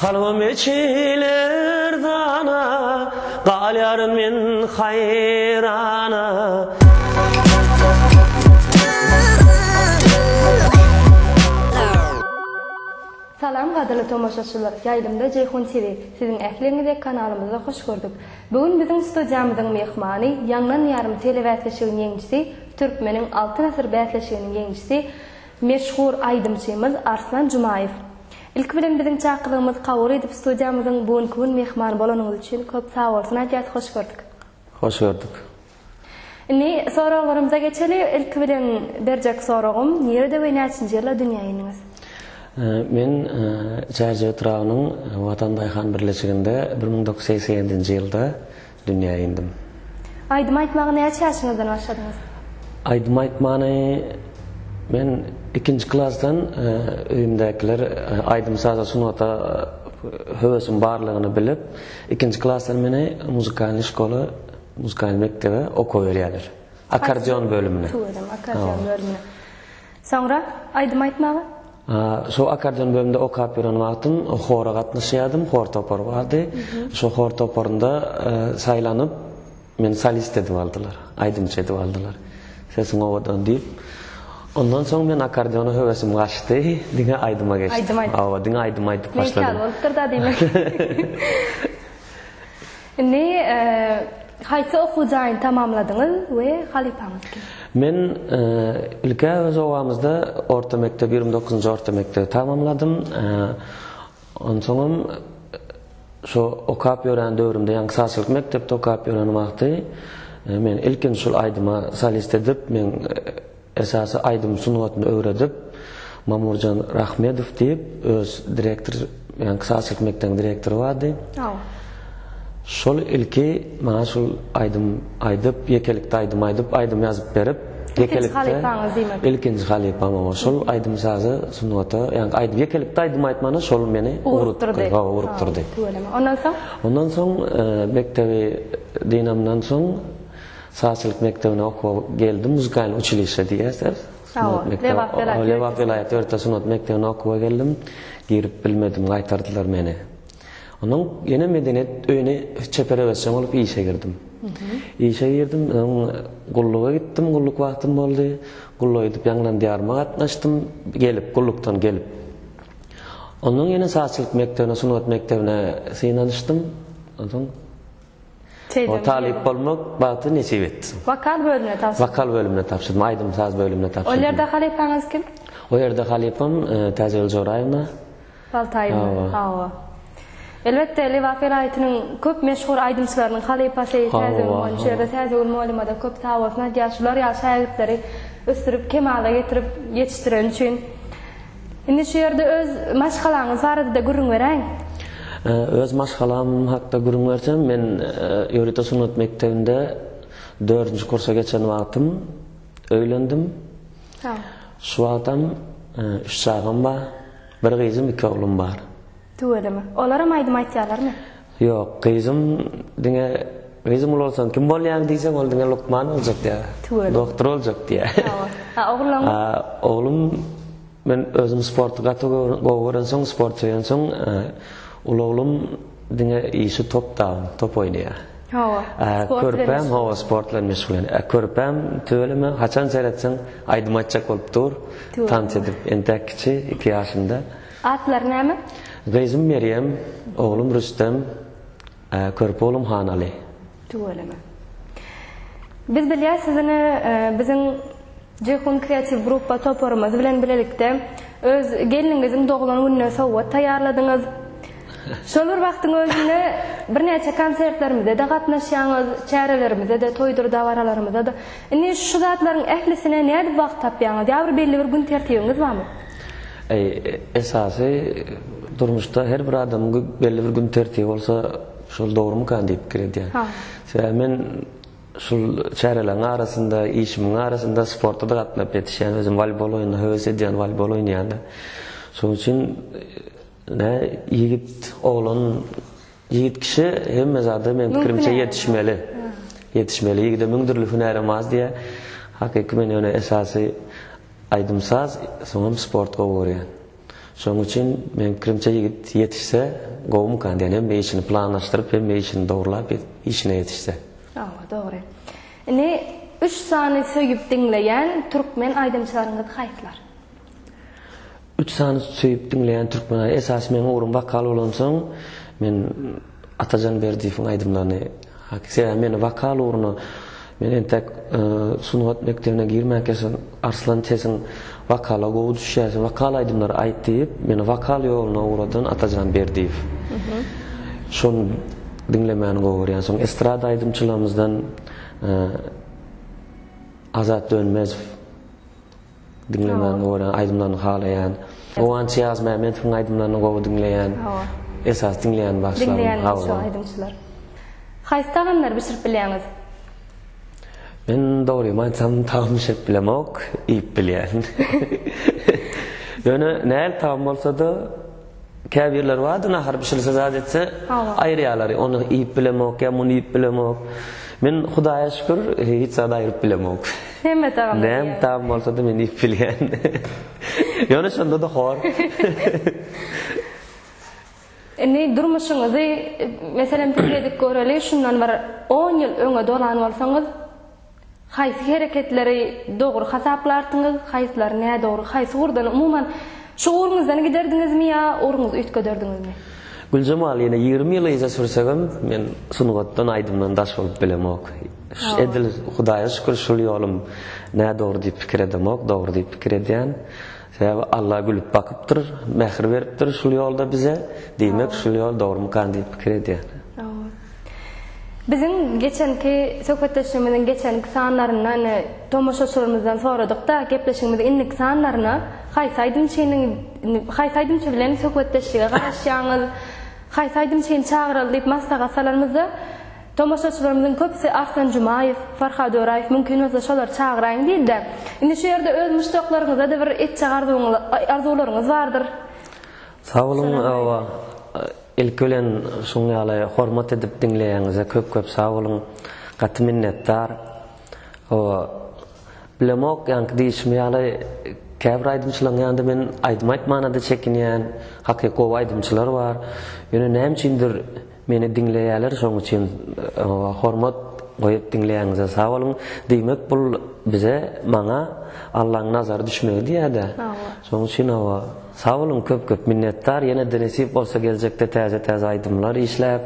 Kalbym eçiler dana, galýaryn men haýrana. Salam gadyrly tomaşaçylar, Ýaýlymda Jeýhun TV, siziň ähliňizi kanalymyzda hoş gördük. Bu gün biziň studiýamyzyň myhmany, Ýaňlan ýarym telebäsleşigiň ýeňijisi, Türkmeniň Altyn asyr bäsleşiginiň ýeňijisi, meşhur aýdymçymyz Arslan Jumaýew. Ilki bilen biziň çakylygymyzy kabul edip studiýamyzyň bu günki gün myhmany bolanyňyz üçin köp sagbolsun aýdýas, hoş gördük. Hoş gördük. Indi soraglarymyza geçeli. Ilki bilen berjek soragym, nirede we näçinji ýylda dünýä indiňiz? Men Çärje etrabynyň Watan daýhan birleşiginde bir müň dokuz ýüz segsen ýedinji ýylda dünýä indim. Aýdym aýtmaga näçe ýaşyňyzdan başladyňyz? Aýdym aýtmany men ikinji klasdan öýümdäkiler aýdym-saza, sungata höwesiň barlygyny bilip, ikinji klasdan meni muzykalnyý şkola Muzykal mekdebe okuwa berýärler. Akkordeon bölümine. Tüw edem, akkordeon bölümine. Soňra aýdym aýtmaga? Şo akkordeon bölüminde okap ýören wagtym hora gatnaşýardym, hor topary bardy. Şo hor toparynda saýlanyp, meni solist edip aldylar, aýdymçy edip aldylar. Sesiň owadan diýip. Ondan soň men akkordeona höwesim gaçdy, diňe aýdyma geçdim. Aýdym aýdyp. Hawa, diňe aýdym aýdyp başladym. Meýilli bolupdyr-da diýmek. Indi haýsy okuw jaýyny tamamladyňyz we halypaňyz kim? Men ilk-ä öz obamyzda orta mekdebi, ýigrimi dokuzynjy orta mekdebi tamamladym. Onsoňam şo okap ýören döwrümde, ýagny sazçylyk mekdepde okap ýören wagty men ilkinji şol aýdyma solist edip, men Esasy aýdym sungatyny öwredip, Mamurjan Rahmedow diýip, öz direktor, ýagny klassyk mekdebiň direktory bardy. Aw. Şol ilki maňa şul aýdym aýdyp, ýekelikde aýdym aýdyp, aýdym ýazyp berip, Ilkinji halypaňyz diýmek. Ilkinji halypam oňa şol aýdym-sazy sungata, ýagny aýdyp ýekelikde aýdym aýtmana şol meni ugrukdyrdy. Hawa, ugrukdyrdy. Tüweleme. Ondan soň? Ondan soň mekdebi dynamdan soň Sazçylyk mekdebine okuwa geldim, muzykal uçilişe diýýärsiz. Lebap welaýat ýörite sungat mekdebine okuwa geldim. Girip bilmedim, gaýtardylar meni. Onuň ýene medeniýet öýüne çeper öwezjeň bolup işe girdim. Işe girdim, gulluga gitdim, gulluk wagtym boldy. Gulluk edip ýaňylan diýaryma gatnaşdym, gelip, gullukdan gelip. Ondan ýene sazçylyk mekdebine, sungat mekdebine synanyşdym. Onsoň. Talyp bolmak bagty nesip etsin. Wokal bölümine tabşyrdym. Wokal bölümine tabşyrdym, aýdym-saz bölümine tabşyrdym. Ol ýerde halypaňyz kim? Ol ýerde halypam Täjegül Joraýewna. Baltaýewa, hawa. Elbetde, Lebap welaýatynyň köp meşhur aýdymçylarynyň halypasy Täjegül mugallym. Şu ýerde Täjegül mugallymada köp sag bolsun aýdýas, şular ýaly şägirtleri ösdürip, kemala getirip ýetişdireni üçin. Indi şu ýerde öz maşgalaňyz barada-da gürrüň beräýiň. Öz maşgalam hakda gürrüň bersem, men Ýörite sungat mekdebinde dördünji kursa geçen wagtym öýlendim. Şu wagtam üç çagam bar. Bir gyzym, iki oglum bar. Tüweleme. Olaram aýdym aýtýarlarmy? Ýok, gyzym, diňe gyzym uly bolsaň kim bolýaň diýseň, ol diňe lukman boljak diýär. Tüweleme. Doktor boljak diýär. Hawa. A ogluň? A oglum, men özüm sporty gaty gowy görensoň, sport söýensoň, uly oglum diňe işi top dagyn, top oýnaýar. Hawa. A körpäm, hawa, sport bilen meşgullanýar. A körpäm, tüweleme, haçan seretseň, aýdym aýtjak bolup dur, tans edip, entäk kiçi, iki ýaşynda. Atlary näme? Gyzym Merýem, oglum Rüstem, körpe oglum Hanaly. Tüweleme. Biz bilýäs siziňi biziň Jeýhun kreatiw gruppa toparymyz bilen bilelikde öz gelniňiziň doglan gününe sowgat taýýarladyňyz. Şol bir wagtyň özünde birnäçe konsertlerimize-de gatnaşýaňyz, çärelerimize-de, toýdur dabaralarymyza-da. Indi şu zatlaryň ählisine nädip wagt tapýaňyz? Ýa bir belli bir gün tertibiňiz barmy? Eý, esasy durmuşda her bir adamyň belli bir gün tertibi bolsa, şol dogrumykan diýip pikir edýän. Sebäbi men şul çäreleriň arasynda, işimiň arasynda sporta-da gatnap ýetişýän, özüm walýbol oýnuna höwes edýän, walýbol oýnaýan-da. Şonuň üçin Nä ýigit oglan ýigit kişi hemme zada meň pikirimçe ýetişmeli. Ýetişmeli ýigide müň dürli hünär hem az diýýär. Hakyky men ýöne esasy aýdym saz soňam sport gowy görýän. Şoň üçin meň pikirimçe ýigit ýetişse gowumykan diýýän hemme işini planlaşdyryp hemme işini dogrulap işine ýetişse. Hawa dogry. Indi üç sany söýüp diňleýän türkmen aýdymçylaryňyz haýsylar? Üç sany söýüp diňleýän türkmenay esasy meň ugrum wokal bolansoň men Atajan Berdiýewiň aýdymlaryny sebäbi meni wokal ugruna men entek sungat mekdebine girmänkä şol Arslan sesiň wokala gowy düşýär sen wokal aýdymlary aýt diýip meni wokal ýoluna ugradan Atajan Berdiýew şony diňlemäni gowy görýän soň estrada aýdymçylarymyzdan Azat Dönmezow. Diňlemäni görýän, aýdymlaryny halaýan. Guwanç Ýazmämmedowyň aýdymlaryny gowy diňleýän. Hawa. Esasy diňleýän bagşylarym. Diňleýänler şu aýdymçylar. Haýsy tagamlary bişirip bilýäňiz? Men dogrymy aýtsam tagam bişirip bilemok, iýip bilýän. Ýöne nähili tagam bolsada. Käbirleri bardy nahar bişirse zat etse aýyrýalary ony iýip bilemok ýa muny iýip bilemok. Men Hudaýa şükür hiç zady aýryp bilemok. Hemme tagamy iýýän. Näme tagam bolsada men iýip bilýän. Ýöne şondada hor. Indi durmuşyňyzy meselem pikir edip göreli şundan bir on ýyl öňe dolan bolsaňyz Haýsy hereketleri dogry hasaplarsyňyz, haýsylary nädogry, haýsy ugurdan umuman şu ugruňyzdan giderdiňizmi ýa ugruňyzy üýtgederdiňizmi? Güljemal ýene ýigrimi ýyl yza sürsegem men sungatdan aýdymdan daş bolup bilemok. Edil Hudaýa şükür şul ýolum nädogry diýip pikir edemok, dogry diýip pikir edýän. Sebäbi Alla gülüp bakypdyr, mähir beripdir şul ýolda bize, diýmek şul ýol dogrumykan diýip pikir edýän. Biziň geçenki söhbetdeşligimiziň geçenki sanlarynda ine tomaşaçylarymyzdan soradykda gepleşigimiziň indiki sanlaryna haýsy aýdymçynyň haýsy aýdymçy bilen söhbetdeşlige garaşýaňyz, haýsy aýdymçyny çagyraly diýip maslahat salanymyzda, Tomaşaçylarymyzyň köpüsi Arslan Jumaýew, Farhad Öraýew mümkin bolsa şolary çagyraýyň diýdi-de, indi şu ýerde öz muşdaklaryňyza-da bir etjek arzuwlaryňyz bardyr. Sag boluň, hawa, ilki bilen şuň ýaly hormat edip diňleýäňize köp köp sag boluň, gaty minnetdar. Hawa, bilemok, ýaňky diýişim ýaly, käbir aýdymçylaryň ýanynda men aýdym aýtmana-da çekinýän, hakyky gowy aýdymçylar bar, ýöne näme üçindir, Meni diňleýäler şoň üçin hormat goýup diňleýäňize sag boluň. Diýmek bul bize maňa Allaň nazary düşmegi diýädä. Şoň üçin hawa sag boluň köp köp minnetdar ýenede nesip bolsa geljekde täze täze aýdymlar işläp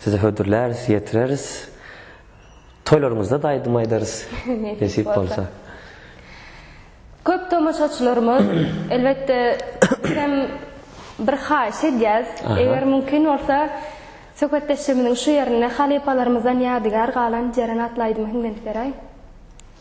size hödürläris ýetireris. Toýlaryňyzda da aýdym aýdarys nesip bolsa. Köp tomaşaçylarymyz elbetde biz hem bir haýyş edýäs eger mümkin bolsa söhbetdeşligimiziň şu ýerinde halypalarymyzdan ýadygär galan Jeren atly aýdymy hiňlenip beräý.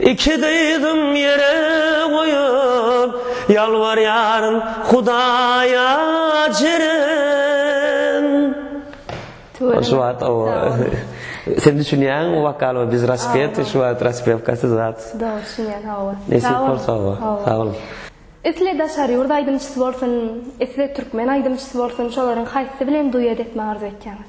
Iki dyzym ýere goýup, ýalbarýaryn Hudaýa jerem. Tüweleme. Şu wagt o Sen düşünýäň wokal we biz raspet şu wagt raspewkasy zat. Dogry düşünýän hawa. Nesip bolsa hawa. Sag bol. Isle daşary ýurt aýdymçysy bolsun, isle türkmen aýdymçysy bolsun şolaryň haýsysy bilen duet etmegi arzuw etýäňiz?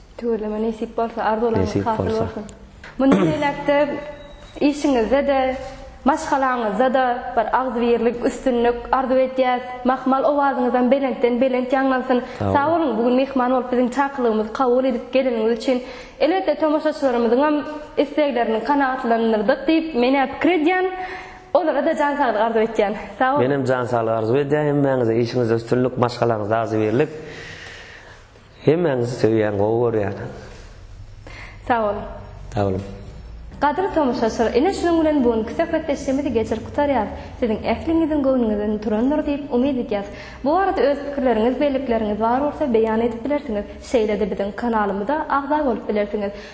Tüweleme nesip bolsa arzuwlaryňyz hasyl bolsun. Mundan beýläk-de işiňizde-de, maşgalaňyzda-da bir agzybirlik, üstünlik arzuw edýäs. Mahmal owazyňyzam belentden belent ýaňlansyn. Sag boluň, bu gün myhman bolup biziň çakylygymyzy kabul edip geleniňiz üçin. Elbetde tomaşaçylarymyzyňam isleglerini kanagatlandyrdyk diýip men-ä pikir edýän. Olara-da jan saglyk arzuw etýän. Sag boluň. Menem jan saglyk arzuw edýän hemmäňize. Işiňizde üstünlik, maşgalaňyzda agzybirlik. Hemmäňizi söýýän gowy görýän. Sag boluň. Sag boluň. Gadyrly tomaşaçylar ine şunuň bilen bu günki söhbetdeşligimizi geçirip gutarýas. Siziň ähliňiziň göwnüňizden turandyr diýip umyt edýäs. Bu barada öz pikirleriňiz, bellikleriňiz bar bolsa beýan edip bilersiňiz. Şeýle-de biziň kanalymyza agza bolup bilersiňiz.